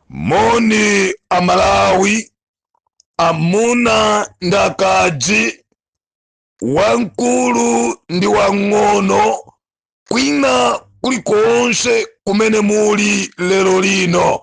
moni amalawi amuna ndi akazi wamkulu ndi wang'ono kwina kulikonse kumene muli lero lino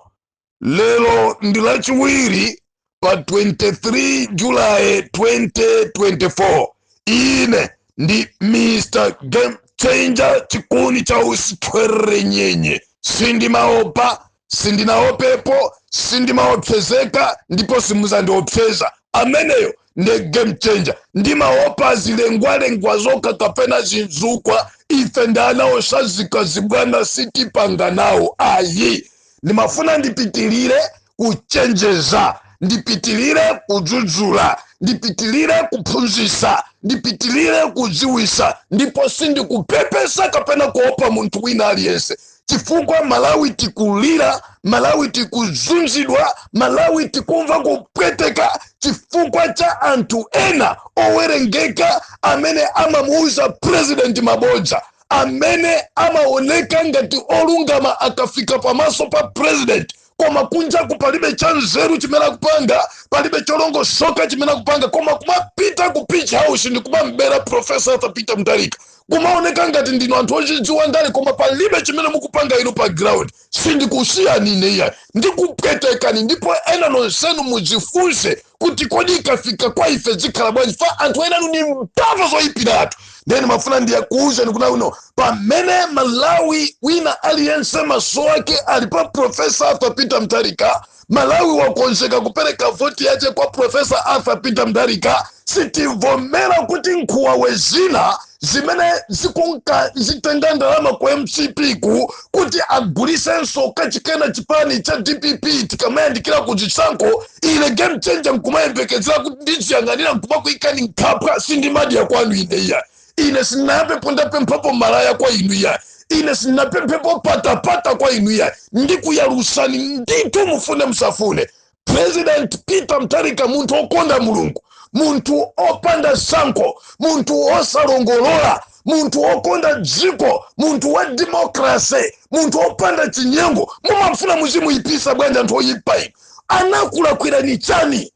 lero ndi lachiwiri pa 23 julayi 2024 ine ndi mr game changer chikuni cha utsi thwerere nyenye sindimaopa sindinaopepo sindimaopsezeka ndipo simuzandiopseza ameneyo nde game changer ndimaopa zilengwalengwa zokha kapena zizukwa ife ndi ana osadzika zibwana sitipanga nawo ayi ndimafuna ndipitirire kuchenjeza ndipitilire kudzudzula ndipitilire kuphunzisa ndipitilire kudziwisa ndipo sindikupepesa kapena kuopa munthu wina aliyense chifukwa malawi tikulira malawi tikuzunzidwa malawi tikumva kupweteka chifukwa cha anthu ena owerengeka amene amamuuza purezidenti mabodza amene amaoneka ngati olungama akafika pamaso pa purezidenti koma kunjaku palibe cha nzeru chimene akupanga palibe cholongosoka chimene akupanga koma kumapita ku page house ndi kumamubera profesa arthur peter mtharika kumaoneka ngati ndinu anthu ozidziwa ndale koma palibe chimene mukupanga inu pa ground sindikusiyani ine iyayi ndikupwetekani ndipo ena nonsenu mudzifunse kuti kodi ikafika kwa ife zikhala bwanji chifukwa anthu enanu ndi mbava zoyipiratu nde ndimafuna ndikuuzeni kunena kuti pamene malawi wina aliyense maso ake ali pa profesa arthur peter mtharika malawi wakonzeka kupereka voti yace kwa profesa arthur peter mtharika sitivomera kuti nkhumbawe zina zimene zikunka zitenga ndalama ku mcp ko kuti agulisenso kachikenanso chipani cha dpp tikamayandikira ku chisankho ine game changer nkumayembekezera kuti ndiziyang'anira nkumakuikani nkhapwa sindimadya kwanu ine iyayi ine sinayambepo ndapemphapo malaya kwa inu iyayi ine sinapemphepo patapata kwa inu iyayi ndikuyalusani ndithu mufune musafune president peter mtharika munthu okonda mulungu munthu opanda sankho munthu osalongolola munthu okonda dziko munthu wa demokrase munthu opanda chinyengo mumafuna muzimuyipisa bwanji anthu oyipa inu anakulakwirani chani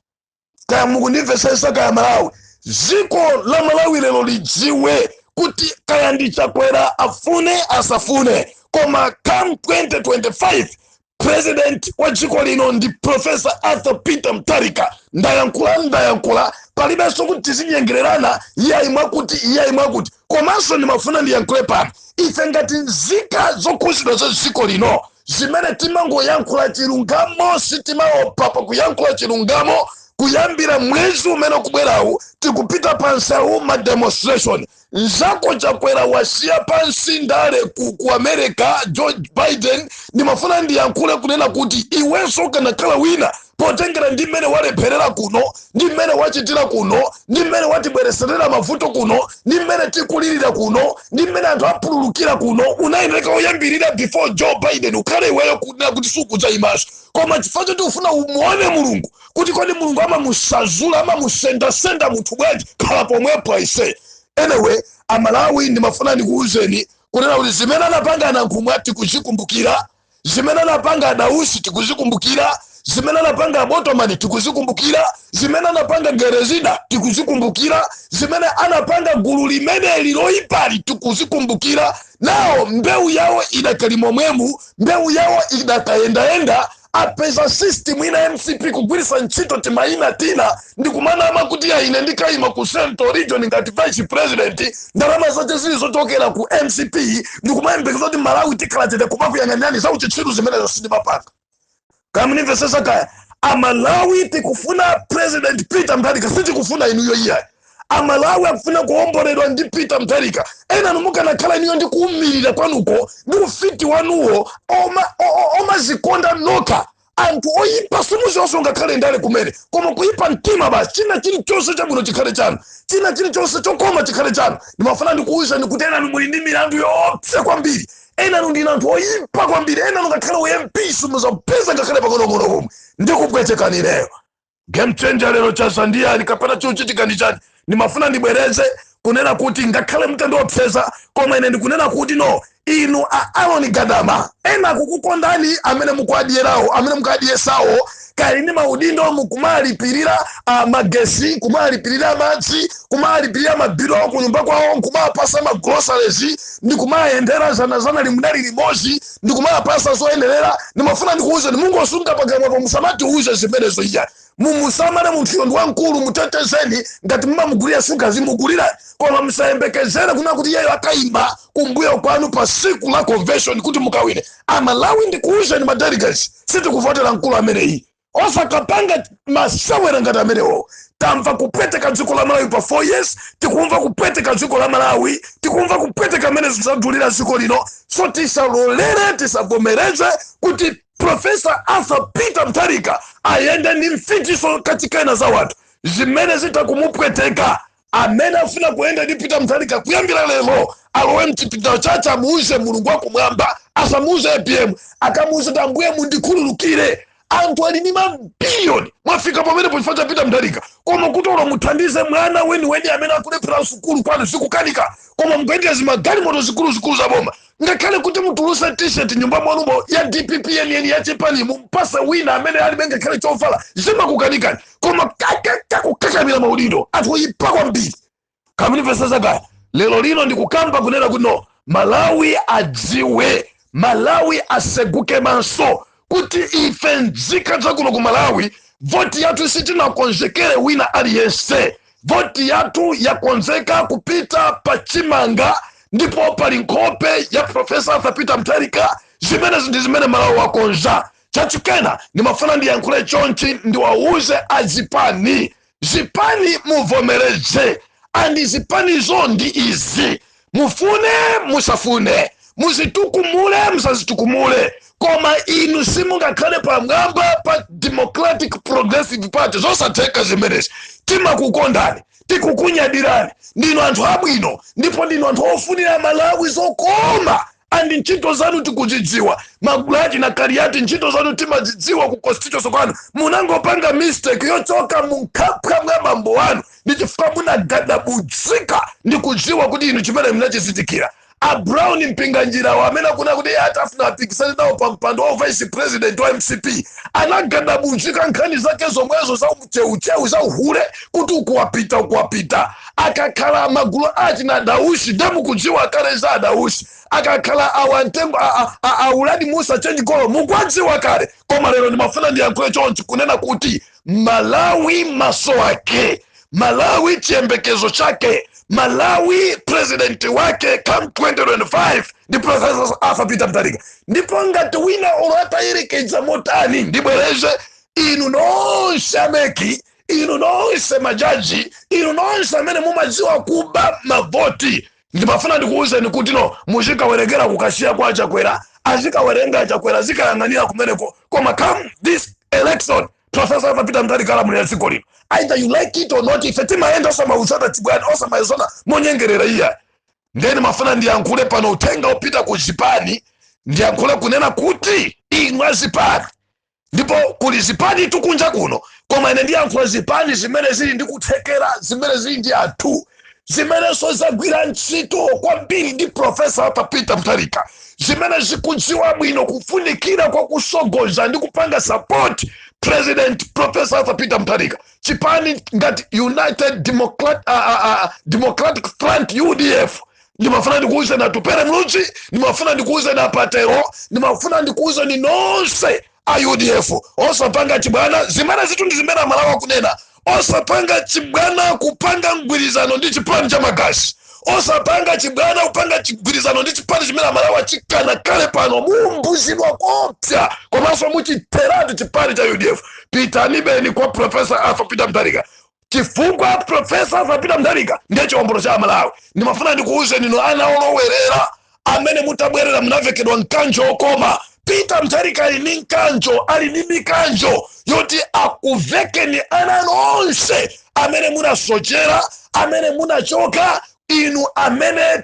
kaya mukundimvetsetsa kaya malawi dziko la malawi lero lidziwe kuti kaya ndi chakwera afune asafune koma come 2025 president wa dziko lino ndi professor arthur peter mutharika ndayankhula ndayankhula palibenso kuti tizinyengererana iyayi mwakuti iyayi mwakuti komanso ndimafuna ndiyankhule pano ife ngati nzika zokhuzidwa za dziko lino zimene timangoyankhula chilungamo sitimaopa pa kuyankhula chilungamo kuyambira mwezi umene ukubwerawu tikupita pamsewu ma demonstration Nzako Chakwera wasiya pansi ndale ku, ku America George Biden ndimafuna ndiyankhule kunena kuti iwenso ukanakhala wina potengera ndi mmene walepherera kuno ndi mmene wachitira kuno ndi mmene watibwereserera mavuto kuno ndi mmene tikulirira kuno ndi mmene anthu apululukira kuno unayeneka oyambirira before Joe Biden ukhale iweyo kunena kuti sukudzayimanso koma chifukwa choti ufuna umuone mulungu kuti kodi mulungu amamusazula amamusendasenda munthu bwanji khala pomwepo aise anyway amalawi ndimafuna ndikuwuzeni kunena kuti zimene anapanga anankhumwa tikuzikumbukira zimene anapanga adausi tikuzikumbukira zimene anapanga abotomani tikuzikumbukira zimene anapanga gerezida tikuzikumbukira zimene anapanga gulu limeneli loyipali tikuzikumbukira nawo mbewu yawo idakali mmwemu mbewu yawo idakayendayenda apeza system ina mcp kugwiritsa ntchito timayina tina ndikumanama kuti ya ine ndikayima ku central region ngati vice president ndalama zake zili zochokera ku mcp ndikumayembekeza kuti malawi tikhala chete kumakuyang'anirani za uchitsiru zimenezo sindimapanga kamnimvesesa kaya amalawi tikufuna president peter mutharika sitikufuna inuyo iyayi amalawi akufuna kuomboledwa ndi peter mutharika enanu mukanakhala inuyo ndi kuumirira kwanuko ndi ufiti wanuwo oma- o- o- omazikonda nokha anthu oyipa simuziwonso ngakhale ndale kumene koma kuyipa mtima basi china chilichonse chabwino chikhale chanu china chilichonse chokoma chikhale chanu ndimafuna ndikuwuzeni kuti enanu muli ndi milandu yoopsa kwambiri enanu ndinu anthu oyipa kwambiri enanu ngakhale ump simuzapeza ngakhale pang'onong'ono komwe ndikupwetekani ineyo game changer lero chaza ndi chani kapena chochitika ndi chani ndimafuna ndibwereze kunena kuti ngakhale mutandiopseza koma ine ndikunena kuti no inu a aron gadama ena akukukondani amene mukuadiyerawo amene mukuadiyesawo ali ndi maudindo mukumalipirira uh, magetsi kumalipirira madzi kumalipirira mabilu awo kunyumba kwawo kumapasa magroceries ndi kumayendera zanazana limudali limodzi ndikumawapasa zoyenerera ndimafuna ndikuwuzeni mungotsunga pakamwapo musamatiwuze zimenezo iya mumusamale munthuyo ndi wamkulu mutetezeni ngati mumamugulira shuga zimugulira koma musayembekezere kuna kuti iyeyo akayima kumbuyo kwanu pa siku la convention kuti mukawine amalawi ndikuwuzeni madelegates sitikuvotera mkulu ameneyi osakapanga masewera ngati amenewo tamva kupweteka dziko la malawi pa 4 years tikumva kupweteka dziko la malawi tikumva kupweteka mmene zinthu zadulira dziko lino so tisalolere tisavomereze kuti profesa arthur peter mutharika ayende ndi mfitiso kachikena za wanthu zimene zitha kumupweteka Amene afuna kuyenda ndi Peter Mutharika kuyambira lero alowe mchipinda chache amuuze Mulungu wakumwamba asamuuze apm akamuuze kuti ambuye mundikhululukire anthu ali ndi mabiliyoni mwafika pamenepo chifukwa cha Peter Mutharika koma kuti olo muthandize mwana weniweni amene akulephera sukulu kwanu zikukanika koma mukuyendera zimagalimoto zikuluzikulu za boma ngakhale kuti mutuluse t-shirt mnyumba mwanumo ya dpp yeniyeni ya chipani mumpase wina amene alibe ngakhale chovala zimakukanikani koma kakaka kukakamira maudindo anthu oyipa kwambiri kamnivesa zakaya lero lino ndikukamba kunena kuti no malawi adziwe malawi aseguke maso kuti ife mzika zakuno ku malawi voti yathu sitinakonzekere wina aliyense voti yathu yakonzeka kupita pa chimanga ndipo pali nkhope ya profesa arthur peter mutharika zimenezi ndi zimene malawi wakonza chachikena ndimafuna ndiyankhule chonchi ndiwawuze azipani zipani muvomereze andi zipanizo ndi izi mufune musafune muzitukumule musazitukumule koma inu simungakhale pamwamba pa democratic progressive party zosatheka zimenezi timakukondani tikukunyadirani ndinu anthu abwino ndipo ndinu anthu ofunira malawi zokoma and ntchito zanu tikuzidziwa magulati na kaliati ntchito zanu timazidziwa ku constituency kwanu munangopanga mistake yochoka munkhwapa mwa bambo wanu ndi chifukwa munagadabudzika ndi kudziwa kuti inu chimene mnachizindikira a brown mpinganjirawo amene akunena kuti iye atafuna apikisane nawo pa mpando wa vice president wa mcp anagadabudzika nkhani zake zomwezo za ucheucheu za uhule kuti uku wapita uku wapita akakhala amagulu achina dausi nde mukudziwa kale za adausi akakhala awa mtengo a uladi mussa change golo mukwadziwa kale koma lero ndimafuna ndiyankhule chonchi kunena kuti malawi maso ake malawi chiyembekezo chake malawi presidenti wake come 2025 ndi professor arthur peter mutharika ndipo ngati wina olo atayerekeza motani ndibwereze inu nonse a mec inu nonse majaji inu nonse amene mumadziwa kuba mavoti ndimafuna ndikuwuzeni kuti no muzikawerengera ku kasiya kwa chakwera azikawerenga chakwera azikayang'anira kumeneko koma come this election profesa arthur peter mutharika alamulira dziko lino either you like it or not ife timayenda osamauzana chibwana osamayezona monyengerera iya nde nimafuna ndiyankhule pano uthenga opita ku zipani ndiyankhule kunena kuti inu azipani ndipo kuli zipani tu kunja kuno koma ine ndiyankhula zipani zimene zili ndi kuthekera zimene zili ndi anthu zimenenso zagwira ntchito kwambiri ndi profesa arthur peter mutharika zimene zikudziwa bwino kufunikira kwa kusogoza ndi kupanga support president profesa arthur peter mutharika chipani ngati united democratic front udf ndimafuna ndikuuzeni atupele muluzi ndimafuna ndikuuzeni apatero ndimafuna ndikuuzeni nonse a udf osapanga chibwana zimenezitu ndi zimene amalawi akunena osapanga chibwana kupanga mgwirizano ndi chipani cha magazi osapanga chibwana kupanga chigwirizano ndi chipani chimene amalawi achikana kale pano mumbuzidwa koopsa komanso muchitheratu chipani cha udf pitanibeni kwa profesa arthur peter mutharika chifukwa profesa arthur peter mutharika ndiye chiwombolo cha amalawi ndimafuna ndikuwuzeni inu ana olowerera amene mutabwerera munavekedwa mkanjo okoma peter mutharika ali ndi mkanjo ali ndi mikanjo yoti akuvekeni ana nonse amene munasochera amene munachoka inu amene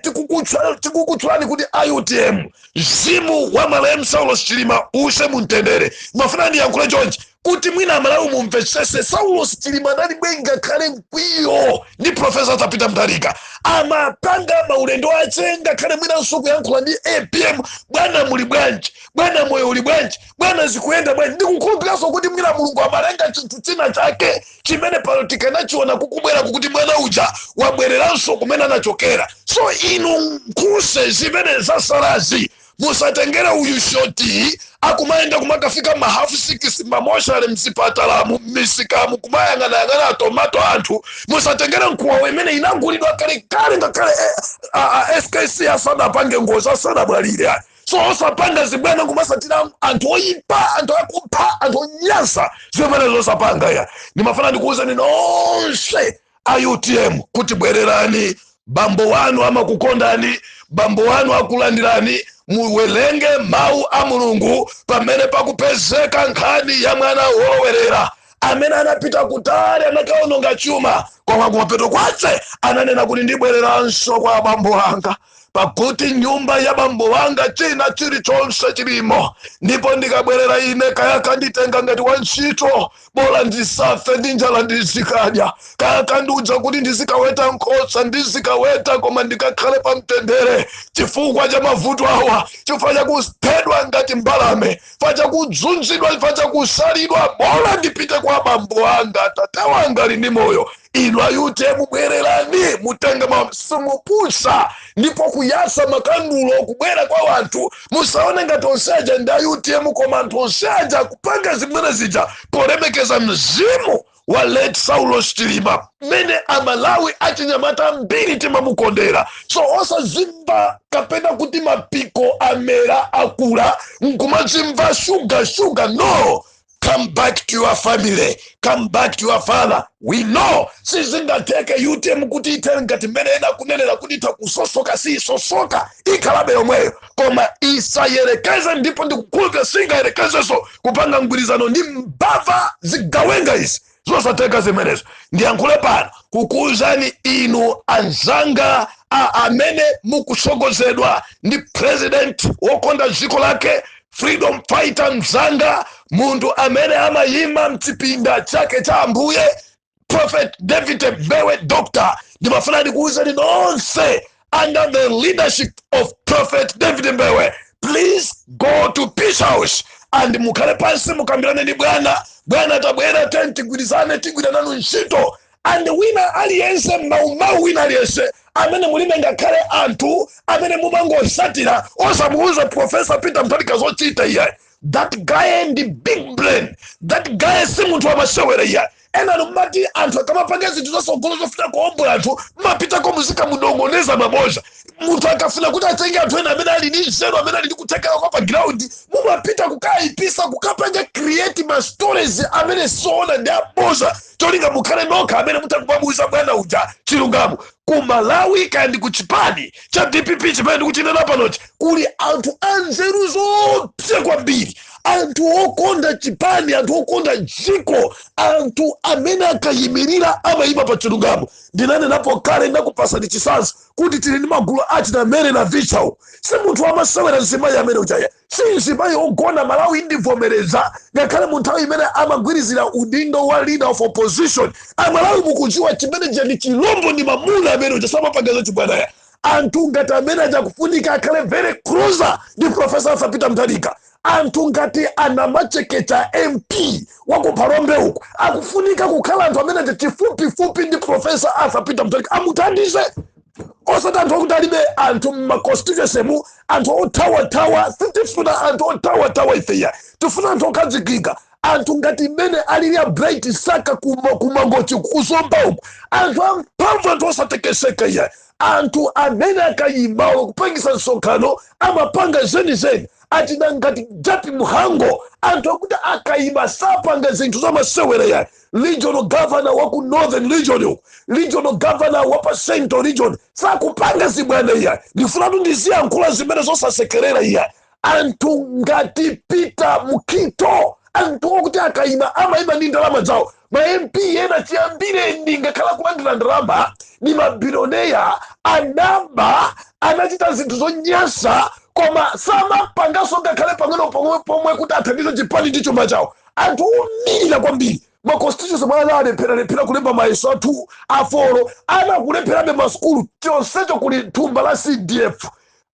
tikukutchulani kuti a utm mzimu wa malemu saulos chilima use mumtendere ndimafuna ndiyankhule chonchi Kuti mwina Amalawi mumvetsese, Saulos Chilima analibe ngakhale mkwiyo ndi Professor Arthur Peter Mutharika. Amapanga maulendo ache ngakhale mwinanso kuyankhula ndi apm, bwana muli bwanji, bwana moyo uli bwanji, bwana zikuyenda bwanji. Ndikukhulupiriranso kuti mwina Mulungu amalenga chinthu china chake chimene pano tikanachiona kukubweraku kuti mwana uja wabwereranso kumene anachokera. So inu nkhutse zimene zatsalazi musatengere uyu shoti akumayenda kumakafika ma half six mamoshale mzipatalamu mmisikamu kumayang'anayang'ana atomato anthu musatengere nkuwa amene anagulidwa kalekale ngakhale eh, a- a- skc asanapange ngozi asanamwalire ayi so osapanga zibwana kumatsatira anthu oyipa anthu akupha anthu onyansa zimenezo osapanga ayi ndimafuna ndikuwuzeni nonse a utm kuti bwererani bambo wanu amakukondani bambo wanu akulandirani muwerenge mawu a mulungu pamene pakupezeka nkhani ya mwana wolowerera amene anapita kutali anakaononga chuma koma kumapeto kwace ananena kuti ndibwereranso kwa abambo wanga pakuti nyumba ya bambo wanga china chilichonse chilimo ndipo ndikabwerera ine kaya akanditenga ngati wantchito bola ndisafe ndi njala ndizikadya kaya akandiuza kuti ndizikaweta nkhosa ndizikaweta koma ndikakhale pa mtendere chifukwa cha mavuto awa chifukwa chakuphedwa ngati mbalame chifukwa chakudzunzidwa chifukwa chakusalidwa bola ndipite kwa bambo anga atate wanga ali ndi moyo inu a utm bwererani mutenge masimu pusa ndipo kuyasa makandulo kubwera kwa wanthu musaone ngati onse aja ndi a utm koma anthu onse aja akupanga zimene zija polemekeza mzimu wa late saulos chilima mmene amalawi achinyamata ambiri timamukondera so osazimva kapena kuti mapiko amera akula nkumazimva shuga shuga no come back to your family come back to your father we know sizingatheke utm kuti ithe ngati mmene ena akunenera kuti itha kusosoka siyisosoka ikhalabe yomweyo koma isayerekeze ndipo ndikukhulupira singayerekezeso kupanga mgwirizano ndi mbava zigawenga izi zosatheka zimenezo ndiyankhule pano kukuwuzani inu anzanga a amene mukutsogozedwa ndi president wokonda dziko lake freedom fighter mzanga munthu amene amayima mchipinda chake cha ambuye prophet david mbewe doctor ndimafuna ndikuwuzeni nonse under the leadership of prophet david mbewe please go to page house and mukhale pansi mukambirane ndi bwana bwana tabwera tiyeni tigwirizane tigwire nanu ntchito and wina aliyense maumau wina aliyense amene mulibe ngakhale anthu amene mumangosatira osamuuza profesa peter mutharika zochita iyayi that guy ndi big brain that guy si munthu wamasewera iyayi enanu mmati anthu akamapanga zinthu zasogolo zofuna kuombola anthu mmapitako muzikamunong'oneza mabodza munthu akafuna kuti atenge anthu ena amene ali ndi nzeru amene ali ndi kuthekera kwa pa ground mumapita kukayipisa kukapanga create ma stories amene si oona ndi abodza cholinga mukhale nokha amene mutha kumamuuza bwana uja chilungamo ku malawi kandi ku chipani cha dpp chimene ndikuchinena panochi kuli anthu anzeru zoopsa kwambiri anthu okonda chipani anthu okonda dziko anthu amene akayimirira amayima pa chilungamo ndinanenapo kale ndakupasani chisanzo kuti tili ndi magulu achina mary navicha si munthu wamasewera mzimayi amene uja ayi Si nzimayi ogona Malawi ndivomereza ngakhale mu nthawi imene amagwirizira udindo wa leader of opposition amalawi mukuziwa chimene chija ndi chilombo ndi mamuna amene uja samapanga za chibwana ayi anthu ngati amene aja kufunika akhale very closer ndi professor arthur peter mutharika anthu ngati a namachekecha mp wakuphalombe uku akufunika kukhala anthu amene aja chifupifupi ndi professor arthur peter mutharika amuthandize osati anthu akuti alibe anthu mmaconstituencymu anthu othawathawa sitifuna anthu othawathawa ife ayi tifuna anthu okhazikika anthu ngati mmene alili a bright msaka kuma- kumangochi kuzomba uku anthu amphamvu anthu osatekeseka iyayi anthu amene akayimawo kupangisa msonkhano amapanga zenizeni achina ngati jappie mhango anthu akuti akayima sapanga zinthu zamasewera ayi regional governor wa ku northern region uku regional governor wa pa central region sakupanga zibwana iya ndifunatu ndiziyankhula zimene zosasekerera iya anthu ngati peter mukito anthu okuti akayima amayima ndi ndalama zawo ma mp ena chiyambireni akhala akulandira ndalama ndi mabilioneya anaba anachita zinthu zonyasa koma samapangaso ngakhale pang'ono pomwe kuti athandize chipani ndi chuma chawo anthu omirira kwambiri ma constituency mwawo ana alephera lephera kulemba mayeso a form four ana akulepherabe masukulu chonsecho kuli thumba la cdf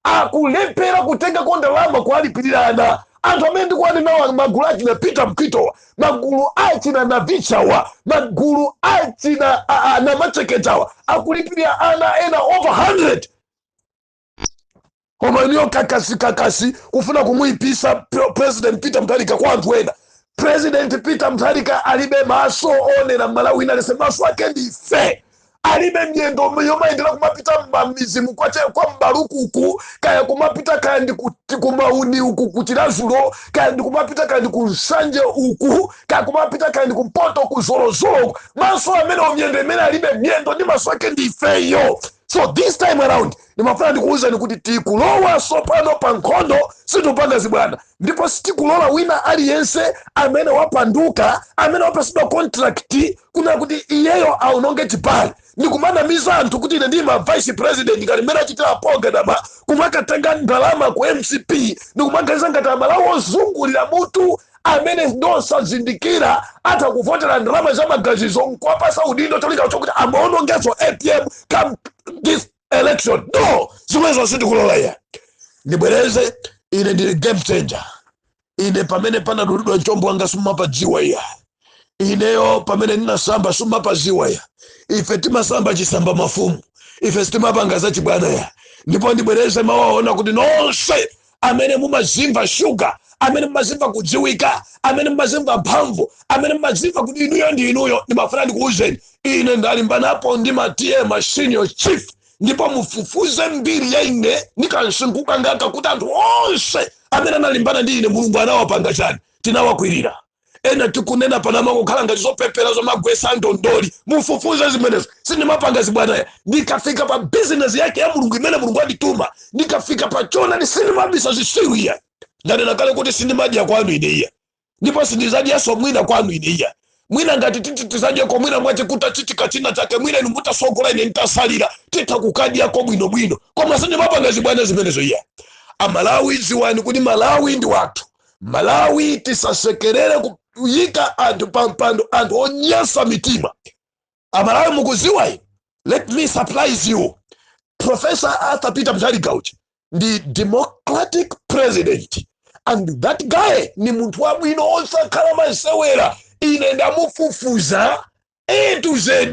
akulephera kutengako ndalama kuwalipirira ana anthu amene ndikuwanenawa magulu achina peter mukitowa magulu achina navichawa magulu achina a- a- namacheketawa akulipirira ana ena over 100 koma inuyo kakasi kakasi kufuna kumuyipisa pre- president peter mutharika kwa anthu ena president peter mutharika alibe maso onera mmalawi wina aliyense maso ake ndi ife alibe myendo yomayendera kumapita mmamizi mu kwache kwa mbalukuku kaya kumapita kaya ndi ku- ti- kumauni uku kuchilazulo kaya ndi kumapita kaya ndi kunsanje uku kaya kumapita kaya ndi kumpoto kuzolozolo uku maso amene myendo imene alibe myendo ndi maso ake ndi ifeyo so this time around ndimafuna ndikuwuzani kuti tikulowa tsopano pa nkhondo sitikupanga zibwana ndipo sitikulola wina aliyense amene wapanduka amene wapasidwa contract kunena kuti iyeyo aononge chipani ndikumanamiza anthu kuti ine ndi imva vice president ngati mmene achitira a ngoga dama kumakatenga ndalama ku mcp ndikumaganiza ngati amalawo ozungulira mutu amene ndosazindikira atha kuvotera ndalama za magazizo nkuwapasa udindo cholinga chokuti amuonongeso apm come this election no zimenezo sindikulola iya ndibwereze ine ndili game changer ine pamene panadulidwa mchombo wanga simumapadziwa iya ineyo pamene ndinasamba simumapadziwa iya ife timasamba chisamba mafumu ife sitimapanga zachibwana iya ndipo ndibwereze mawu aona kuti nonse amene mumazimva shuga amene mumazimva kudziwika amene mumazimva mphamvu amene mumazimva kuti inuyo ndi inuyo ndimafuna ndikuwuzeni ine ndalimbanapo ndi ma ta ma senior chief ndipo mufufuze mbiri ya ine ndi kumsinkhu kwangaku kuti anthu onse amene analimbana ndi ine mulungu anawapanga chani tinawakwirira ena tikunena pano amangokhala ngati zopepera zomagwesa ndondoli mufufuze zimenezo sindimapanga zibwana iya ndikafika pa bizinesi yake ya mulungu imene mulungu andituma ndikafika pa choonadi sindimabisa zisiru iya ndanena kale kuti sindimadya kwanu ine iya ndipo sindizadyaso mwina kwanu ine iya mwina ngati titi tizadyeko mwina mwache kutachitika china chake mwina inu mutasogola ine ntasalira titha kukadyako bwinobwino koma sindimapanga zibwana zimenezo iya amalawi dziwani kuti malawi ndi wathu malawi tisasekerere kuyika anthu pa mpando anthu onyasa mitima amalawi mukuziwa let me surprise you professor arthur peter mutharika ndi democratic president and that guy ni munthu wabwino osakhala masewera ine ndamufufuza A to Z.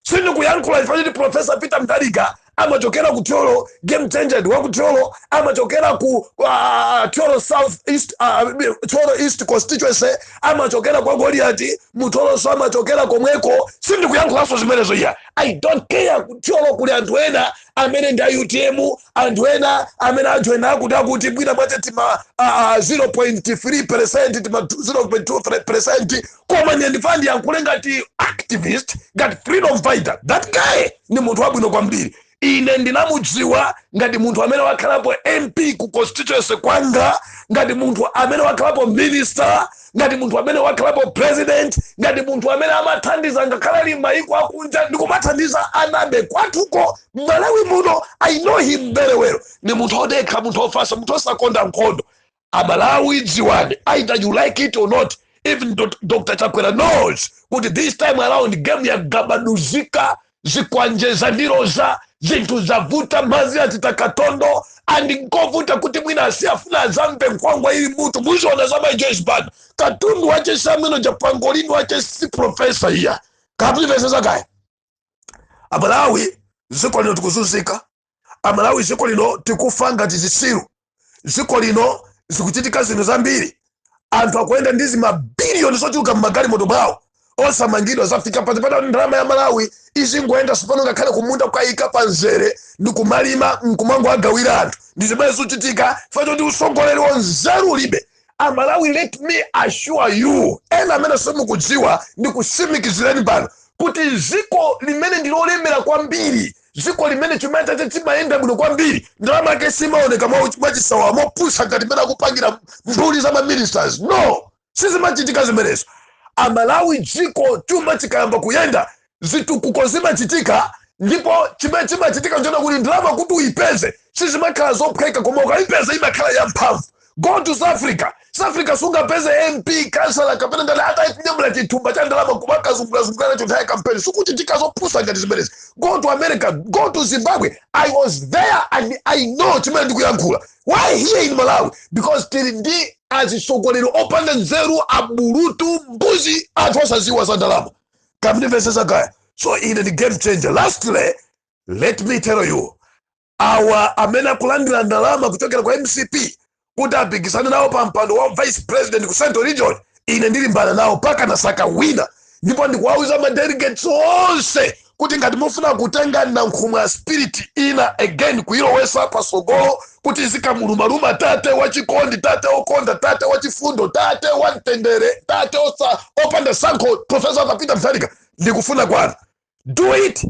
Sindikuyankhula chifukwa choti Professor Peter Mutharika amachokera ku Thyolo, game changer ndi wa ku Thyolo, amachokera ku uh, Thyolo South East, uh, Thyolo East constituency, amachokera kwa Goliati, mtolonso amachokera komweko. Sindikuyankhulanso zimenezo iyayi. I don't care ku Thyolo kuli anthu ena amene ndi a UTM, anthu ena amene ajoina akuti akuti mwina mwake tima ah, ah, 0.3 percent tima 0.2 percent koma ine ndifuna ndiyankhule ngati activist ngati freedom fighter that guy ni munthu wabwino kwambiri ine ndinamudziwa ngati munthu amene wakhalapo mp ku constituency kwanga ngati munthu amene wakhalapo minister ngati munthu amene wakhalapo president ngati munthu amene amathandiza ngakhale ali m'mayiko akunja ndikumathandiza anabe kwathu kuno m'malawi muno i know him very well ndi munthu odekha munthu ofasa munthu osakonda nkhondo amalawi dziwani either you like it or not even dr chakwera knows kuti this time around game yagabaduzika zikwanje zamuloza zinthu zavuta madzi achita katondo and nkovuta kuti mwina asiyafuna azamva nkhwangwa ili mmutu muzaona za mai joyce banda katundu wache sabwino japangolini wache si profesa iya kaya mukumvesesa kaya amalawi dziko lino tikuzunzika amalawi ziko lino tikufa ngati zisiru ziko lino zikuchitika zinthu zambiri anthu akuyenda ndi zimabiliyoni zochuluka mmagalimoto mwawo osamangidwa zafika pati pata ndalama ya malawi izingoyenda tsopano ngakhale kumunda kwayika pa nzere ndi kumalima nkumangoagawira anthu ndi zimene zikuchitika chifukwa choti usogoleri wanzeru ulibe amalawi let me assure you ena amene simukudziwa ndi kusimikizireni pano kuti dziko limene ndilolemera kwambiri dziko limene chuma chake chimayenda bwino kwambiri ndalama yake simaoneka mwachisawawa mopusa ngati mmene akupangira mbuli za maministers no sizimachitika zimenezo amalawi dziko chuma chikayamba kuyenda zitukuko zimachitika ndipo chimene chimachitika nchonena kuti ndalama kuti uyipeze sizimakhala zophweka koma ukayipeza imakhala yamphamvu go to south africa south africa sungapeze mp kansala kapena nduna itanyamula chithumba cha ndalama kumakazungulazungula nacho nthawi ya kampeni sikuchitika zopusa ngati zimenezi go to america go to zimbabwe i was there and i know chimene ndikuyankhula why here in malawi because tili ndi atsogoleri opanda nzeru abulutu mbuzi anthu osadziwa za ndalama kaya mumvesesa kaya so ine ndi game changer lastly let me tell you awa amene akulandira ndalama kuchokera kwa mcp kuti apikisane nawo pa mpando wa vice president ku central region ine ndilimbana nawo paka nasaka wina ndipo ndikuwauza ma delegates onse kuti ngati mufuna kutenga nankhumwa spirit ina again kuyilowesa pasogolo kuti izikamulumaluma tate wachikondi tate okonda tate wachifundo tate wamtendere tate osa opanda sankho profesa arthur peter mutharika ndi kufuna kwanu do it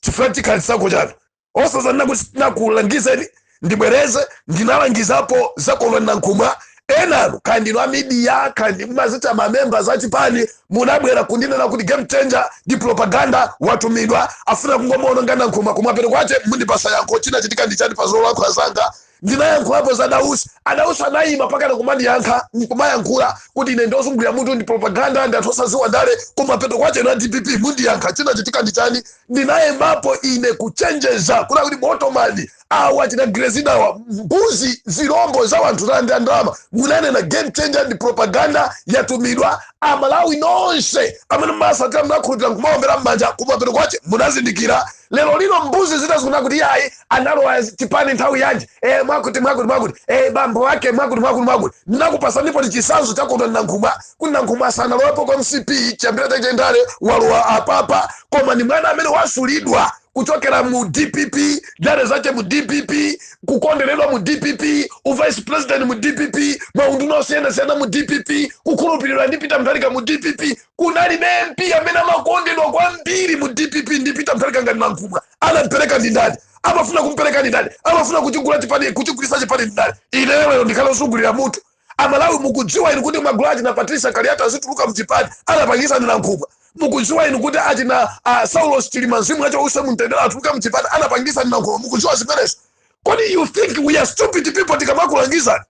chifukwa chikhale chisankho chanu osazanena kuti tinakulangizeni ndibwereze ndinalangizapo za kondwa nankhumwa enanu kaya ndinu amidiya kaya ndinu mumazitcha ma members a chipani munabwera kundinena kuti game changer ndi propaganda watumidwa afuna kungomuononga nankhumwa kumapeto kwache mundipasa yankho chinachitika ndi chani pa zolankhula zanga ndinayankhulapo za Dausi, a Dausi anayima pakana kumandiyankha nkumayankhula kuti ine ndiozungulira mutu ndi propaganda ndi munthu osaziwa ndale kumapeto kwache inu a dpp mundiyankha chinachitika ndi chani ndinayembapo ine kuchenjeza kunena kuti botomani awa achina grezida awa mbuzi zilombo za wanthu zalandira ndalama munanena game changer ndi propaganda yatumidwa amalawi nonse amene mumasatira munakhulupira nkumaombera mmanja kumapeto kwache munazindikira lero lino mbuzi zina zikunena kuti yayi analowa chipani nthawi yanji e, mwakuti mwakuti mwakuti e, bambo wake mwakuti mwakuti mwakuti ndinakupasanipo chisanzo cha kondwa nankhumwa kuti nankhumwa asanalowepo kwa mcp chiyambira chake cha ndale walowa apapa koma ni mwana amene wasulidwa kuchokera mu dpp ndale zache mu dpp kukonderedwa mu dpp uvice president mu dpp maunduna osiyanasiyana mu dpp kukhulupiriridwa ndi peter mutharika mu dpp kunalibe mp amene amakondedwa kwambiri mu dpp ndi peter mutharika ngati nankhumwa anampereka ndi ndani amafuna kumpereka ndi ndani amafuna kuchigula chipani kuchigulisa chipani ndi ndani ineyo lero ndikhale osungulira mutu amalawi mukudziwa inu kuti magulu achina patricia kaliati azituluka mchipani anapangisa ndi nankhumwa mukudziwa inu kuti achina uh, saulos chilima mzimu wache uuse mumtendere atuluka mchipani anapangisa ndi nankhumwa mukudziwa zimenezo kodi you think we are stupid people tikamakulangizani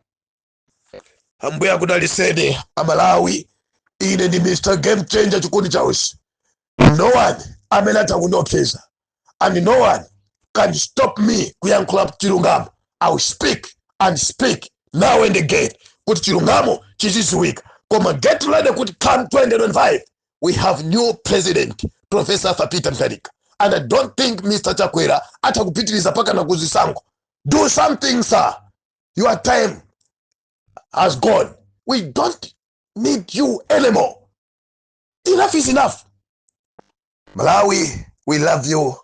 ambuye akudaliseni amalawi ine ndi mr game changer chikondi chausi no one amene atha kundiopseza and no one can stop me kuyankhula chilungamo i will speak and speak now and again kuti chilungamo chiziziwika koma get ready kuti come 2025 we have new president professor arthur peter mutharika and i don't think mr chakwera atha kupitiriza pakana kuzisankho do something sir your time has gone we don't need you anymore enough is enough malawi we love you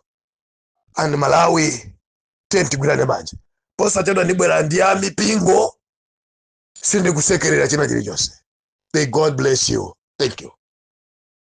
and malawi tiyeni tigwirane manja posachedwa ndibwera ndi ya mipingo sindikusekerera china chilichonse may god bless you thank you